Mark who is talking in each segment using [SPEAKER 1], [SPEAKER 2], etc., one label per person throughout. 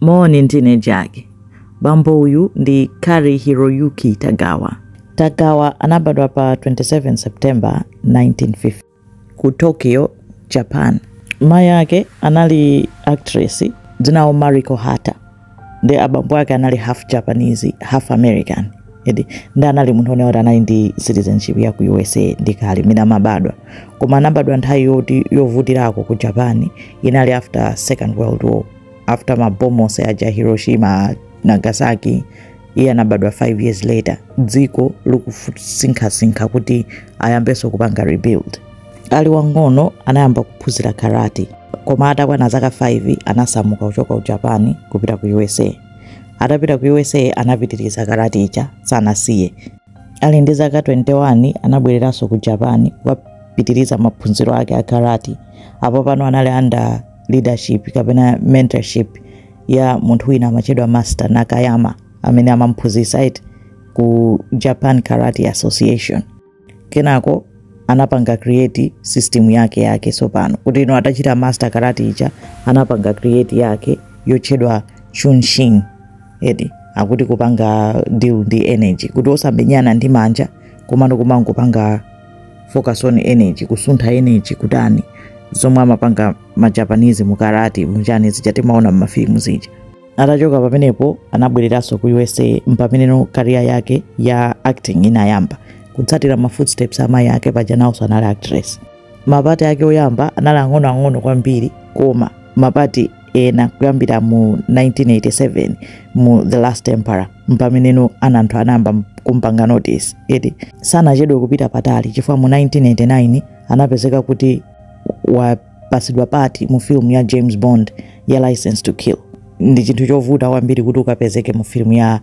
[SPEAKER 1] Moni, ndine Jack. Bambo uyu ndi Cary Hiroyuki Tagawa. Tagawa anabadwa pa 27 September 1950 ku Tokyo, Japan. Mayi ake anali actress dzinawo Mariko Hata ndi abambo ake anali half Japanese half American eti ndi anali munthu one oti anali ndi citizenship ya ku USA ndi kale mmene amabadwa koma anabadwa nthawi yoti yovutirako ku Japan inali after Second World War after mabomu onse aja hiroshima nagasaki iye anabadwa 5 years later dziko likusinkhasinkha kuti ayambenso kupanga rebuild ali wang'ono anayamba kuphunzira karate koma atakwana zaka 5 anasamuka kuchoka ku japan kupita ku usa atapita ku usa anapitiriza karate ija sanasiye ali ndi zaka 21 anabwereranso ku japan kukapitiriza maphunziro ake a karate apo pano anali under leadership kapena mentorship ya munthu wina amatchedwa master nakayama amene amamphunzitsa eti ku japan karate association kenako anapanga create system yake yake tsopano kuti ino atachita master karate ija anapanga create yake yotchedwa chunshin eti akuti kupanga deal ndi energy kuti osamenyana ndi manja komano kumangopanga focus on energy kusuntha energy kutani zomwe amapanga ma japanese mu karate muchani zija timaona mmafilimu zija atachoka pamenepo anabwereranso ku usa mpameneno career yake ya acting inayamba kutsatira ma footsteps a mayi ake paja nawonso anali actress ma part ake oyamba anali ang'onoang'ono kwambiri koma ma part ena kuyambira mu 1987 mu the last emperor mpameneno ana anthu anayamba kumpanga notice eti sanachedwe kupita patali chifukwa mu 1989 anapezeka kuti wapatsidwa part mu film ya james bond ya license to kill ndi chinthu chovuta kwambiri kuti ukapezeke mu film ya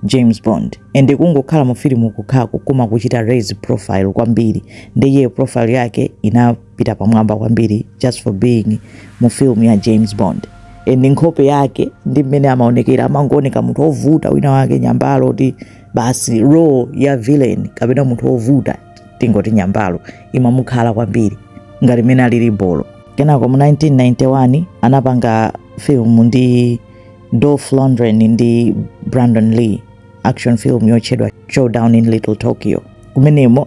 [SPEAKER 1] james bond and kungokhala mu film kokhako kumakuchita raise profile kwambiri ndiye profile yake ina pita pamwamba kwambiri just for being mu film ya james bond and nkhope yake ndi mmene amaonekera amangooneka munthu ovuta winawake nyambalo eti basi role ya villain kapena munthu ovuta tingoti nyambalo imamukhala kwambiri ngati mmene alili bolo kenako mu 1991 anapanga film ndi dolph lundgren ndi brandon lee action film yotchedwa showdown in little tokyo kumenemo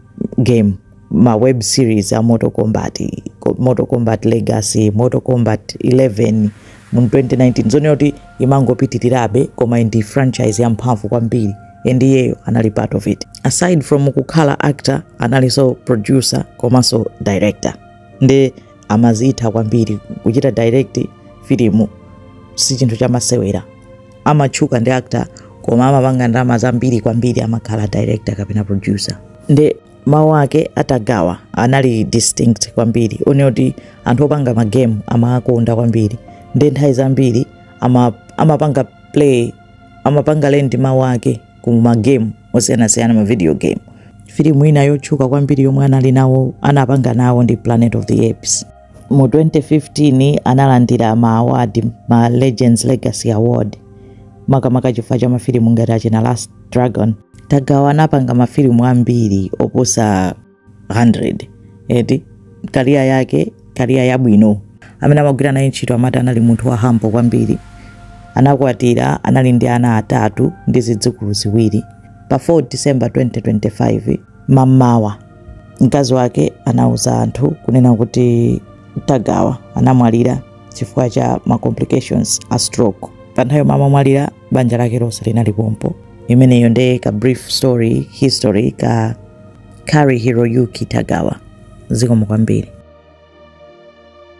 [SPEAKER 1] game ma web series a mortal kombat mortal kombat legacy mortal kombat 11 mu 2019 zooneratu kuti imangopitirirabe koma ndi franchise yamphamvu kwambiri and iyeyo anali part of it aside from kukhala actor analinso producer komanso director nde amazitha kwambiri kuchita direct filimu si chinthu chamasewera amatchuka ndi actor koma amapanga ndalama zambiri kwambiri amakhala director kapena producer nde mawu ake a tagawa anali distinct kwambiri zoonena kuti anthu opanga magame amawakonda kwambiri nde nthawi zambiri amapanga play amapanga lend mawu ake ku magame osiyanasiyana ma video game filimu ina yotchuka kwambiri yomwe anali nawo anapanga nawo ndi planet of the apes Mu 2015 analandira ma award ma Legends Legacy Award makamaka chifukwa cha mafilimu ngati achina Last Dragon. Tagawa anapanga mafilimu ambiri oposa 100 eti career yake career yabwino amene amagwira naye ntchito amati anali munthu wa humble kwambiri anakwatira anali ndi ana atatu ndi zidzukulu ziwiri pa 4 december 2025 mammawa mkazi wake anauza anthu kunena kuti tagawa anamwalira chifukwa cha ma complications a stroke pa nthawi yomwe amamwalira banja lake lonse linali pompo imeneyo nde ka brief story history ka cary hiroyuki tagawa zikomo kwambiri